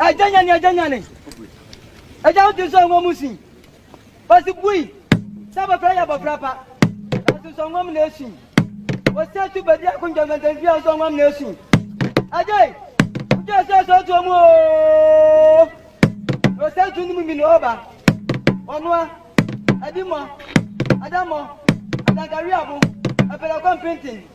Agya nyane agya nyane. Agya wo din sɛ ɔnwɔ mu sin. Ɔsi bui sɛ abɔfra yɛ abɔfra pa. Nanso sɛ ɔnwɔ mu na esin. Ɔsi atu badi ako ntɛntɛntɛn fia sɛ ɔnwɔ mu na esin. Agya yi, wogye ɛsɛ sɛ ɔto ɔmu ooo. Ɔsɛ ntu no mu mi na ɔba. Ɔnoa, adimɔ, adamɔ, adankareabo, apɛlɛkɔ mpenten.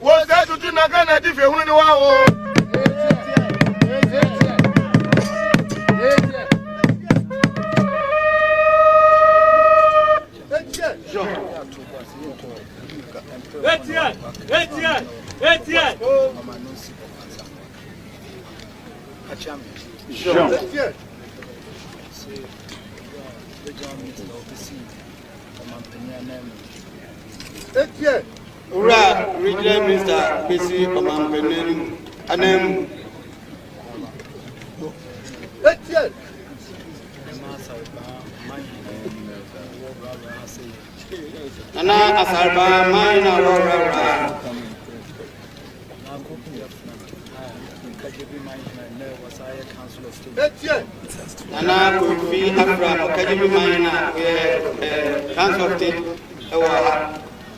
Wo sɛ tutu na ka na di fe hunu ni wa wo. Etienne, Etienne, Etienne. Jean. Etienne. Etienne. Owura Regional Minister besi ɔmanpanin no mu ananmu. Nana Asarba man na wɔwurawura. Nana Kofi Afra Ɔkagyebi man na ɔyɛ eh, Council of State ɛwɔ ha.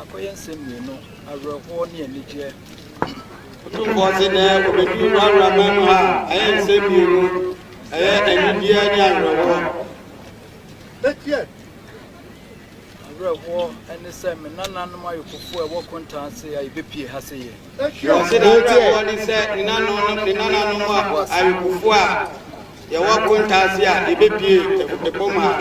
Akɔyɛ nsɛm mmienu, awerɛhoɔ ne anigyeɛ. Otumfoɔ se nnɛ wɔbɛduru w'abrabɔ mu a ɛyɛ nsɛm mmienu, ɛyɛ anigyeɛ ne awerɛhoɔ. Bɛteɛ awerɛhoɔ ne sɛ me nananom ayɔkofoɔ a ɛwɔ kontaa ase a yɛbɛpie ha se yɛ. Ɔse n'awerɛhoɔ ne sɛ ne nananom ne nananom ayɔkofoɔ a yɛwɔ kontaa ase a yɛbɛpie ɛpo mu ha.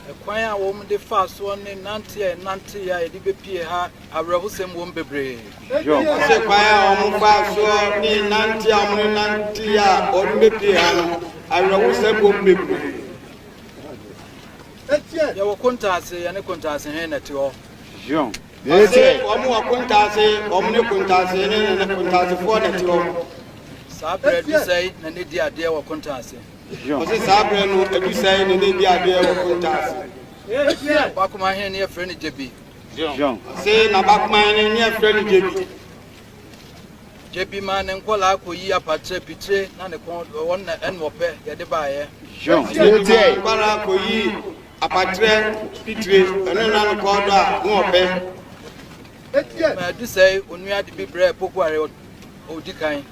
Ɛkwan a wɔde faa soɔ ne nanteɛ a yɛnanteeɛ a yɛde bɛpue ha awerɛhosɛm wom bebree. Ɔse kwan a wɔfaa soɔ ne nanteɛ a wɔnanteeɛ a wɔde bɛpue ha no awerɛhosɛm wom bebree. Yɛwɔ kontaase, yɛne kontaasehene na ɛte hɔ. Ɔse wɔn wɔ kontaase, wɔn ne kontaasehene ne kontaasefoɔ na ɛte hɔ. Saa berɛ aduru sɛe na na ɛdi adeɛ wɔ kontaase. Ɔse saa berɛ no adu sɛɛ na ɛnɛ di adeɛ wɔ Kunta ase. Bakoma hene ne yɛfrɛ no Gyebi. Ɔse na bakoma hene ne yɛfrɛ no Gyebi. Gyebi maa ne nkɔlaa kɔyi apatrɛ pitire na ne kɔn wɔn na ɛna ɔpɛ yɛde baeɛ. Gyebi maa nkɔlaa kɔyi apatrɛ pitire ɛno na ne kɔn dɔ a ne ɔpɛ. Ma adu sɛɛ onua de bi brɛ Pokuare ɔdi kan.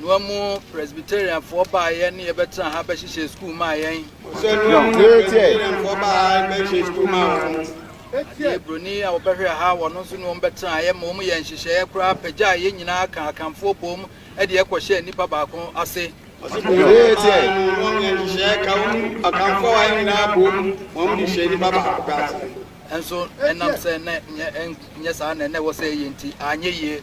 Nua mu Presbyterianfoɔ baa yɛn ne yɛbɛtena ha bɛhyehyɛ sukuu maa yɛn. Adeɛ buroni a wɔbɛhwɛ ha wɔn nso ne wɔn bɛtena yɛ ma wɔn yɛ nhyehyɛeɛ koraa pagyaa yɛn nyinaa ka akanfoɔ bom de ɛkɔhyɛ nnipa baako ase. Nso ɛnam sɛ na nyɛ saa na ɛnɛ wɔ sɛ ɛyɛ nti anyɛ yie.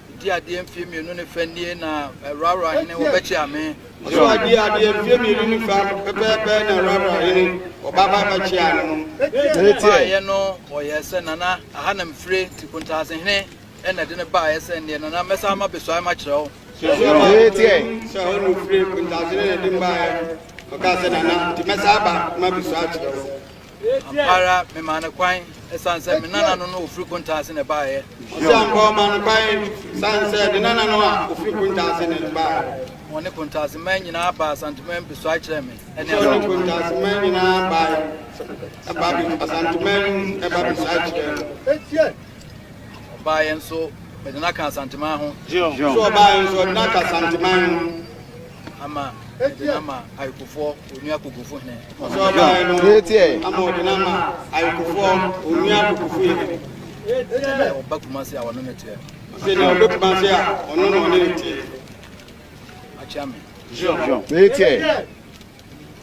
Di adeɛ mfie mmienu ne fɛ nie na Rara hene wɔbɛkye ame. Yehowa di adeɛ mfie mmienu ne fɛ pɛpɛɛpɛ na Rara hene wɔbɛba abɛkye ame no. Baeɛ no wɔyɛɛ sɛ Nana Ahanam Fire nti Kontaase hene na ɛde no baeɛ sɛ nneɛ Nana mɛsan ama besuae makyerɛ wo. Suasua baako bɛhu sɛ hɔ na ɔfire Kontaase hene na ɛde no baeɛ ɔkaa sɛ Nana nti mɛsan aba ma besuae akyerɛ wo. Ampa ara memaa no kwan ɛsiane sɛ me nana no na ɔfiri Kuntaase na ɛbaeɛ. Ɔse Ampa ɔmaa no kwan ɛsiane sɛ ne nana no a ɔfiri Kuntaase na ɛbaeɛ. Wɔne Kuntaase man nyinaa baa Asanteman mpesoae kyerɛɛ me ne Ampa. Wɔne Kuntaase man nyinaa baeɛ ɛba Asanteman mu ɛba besoae kyerɛɛ me. Ɔbaeɛ nso mede no aka Asanteman ho. Ɔse ɔbaeɛ nso ɔde no aka Asanteman ho. ama ɛde no ama ayekofoɔ onua kokofu hene. Ɔsɔ aban no ama ɔde no ama ayekofoɔ onua kokofu hene. Ɛte dɛ ɔba kumase a ɔne ne teɛ. Ɔsɛ deɛ ɔbɛ kumase a ɔno na ɔne ne teɛ. Akyea me. Ɛteɛ.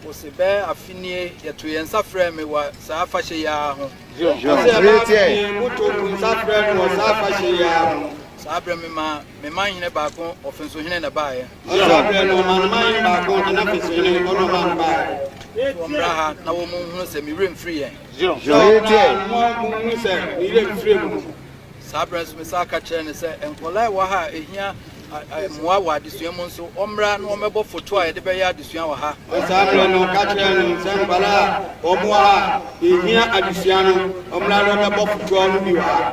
Ɔsɛ bɛ afinie yɛto yɛn nsa frɛ me wɔ saa afahyɛ yi ara ho. Ɔsɛ bɛ afinie moto nsa frɛ me wɔ saa afahyɛ yi ara ho. Saa berɛ me ma Me man hene baako ɔfensohene na ɛbaeɛ. Ɔyɛ saa berɛ no, ɔmanaman hene baako de n'afensohene ɔdɔ maa no baeɛ. Wɔmmra ha na wɔnhunu sɛ me werɛ mfiri yɛn. Wɔmmra ha na wɔnhunu sɛ me werɛ mfiri mo. Saa berɛ nso mesan ka kyerɛɛ no sɛ, nkwadaa a ɛwɔ ha a ɛhia mmoa wɔ adesua mu nso, wɔmmra na wɔmmɛbɔ foto a yɛde bɛyɛ adesua wɔ ha. Saa berɛ no ɔka kyerɛɛ no sɛ, nkwadaa a wɔwɔ ha a ɛhia adesua no, wɔmmra na wɔmmɛbɔ fotoɔ no bi wɔ ha.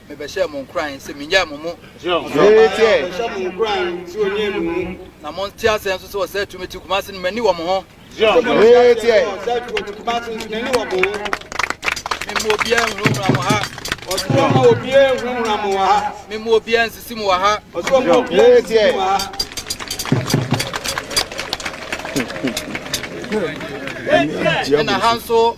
Mebɛhyɛɛ mo nkuran sɛ mennyae mo mo na monte aseɛ nso sɛ ɔsɛe tumi te Kumase no m'ani wɔ mo ho. Memu obiara nhunahuna mo ha. Memu obiara nsisi mo wɔ ha. Ɛna ha nso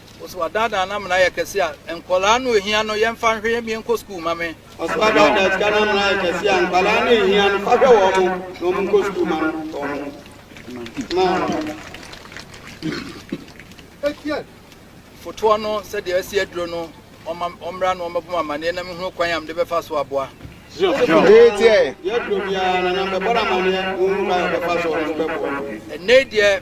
Ɔse wadaadaa no amena ayɛ kɛse a nkwadaa no ohia no yɛmfa nhwɛ yɛmmie nkɔ sukuu ma me. Ɔse wadaadaa sika no amena ayɛ kɛse a nkwadaa no ohia no fa hwɛ wɔn na wɔn nkɔ sukuu ma no wɔn ma wɔn. Fotoɔ no sɛdeɛ asi aduro no ɔma ɔmmra na ɔmmɛbɔ mu amaneɛ na mehunu kwan a mede bɛfa so aboa. Ɛnɛ deɛ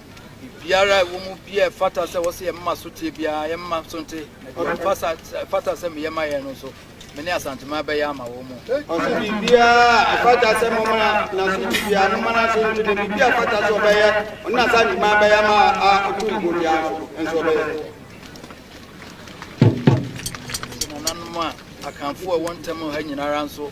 Biribiara a ɛwɔ mu biara ɛfata sɛ wɔsɛ yɛn mma so tie biara yɛn mma so nte na deɛ ɛfasa ɛfata sɛ meyɛ ma yɛn no nso me ne Asanteman bɛyɛ ama wɔn mu. Ɔsɛ biribiara a ɛfata sɛ mo mana na so ti biara mo mana so nte na biribi a ɛfata sɛ ɔbɛyɛ ɔne Asanteman bɛyɛ ma a ɔtu nkuo biara nso nso ɔbɛyɛ. Nananom a akanfoɔ a ɛwɔ ntam ha nyinara nso.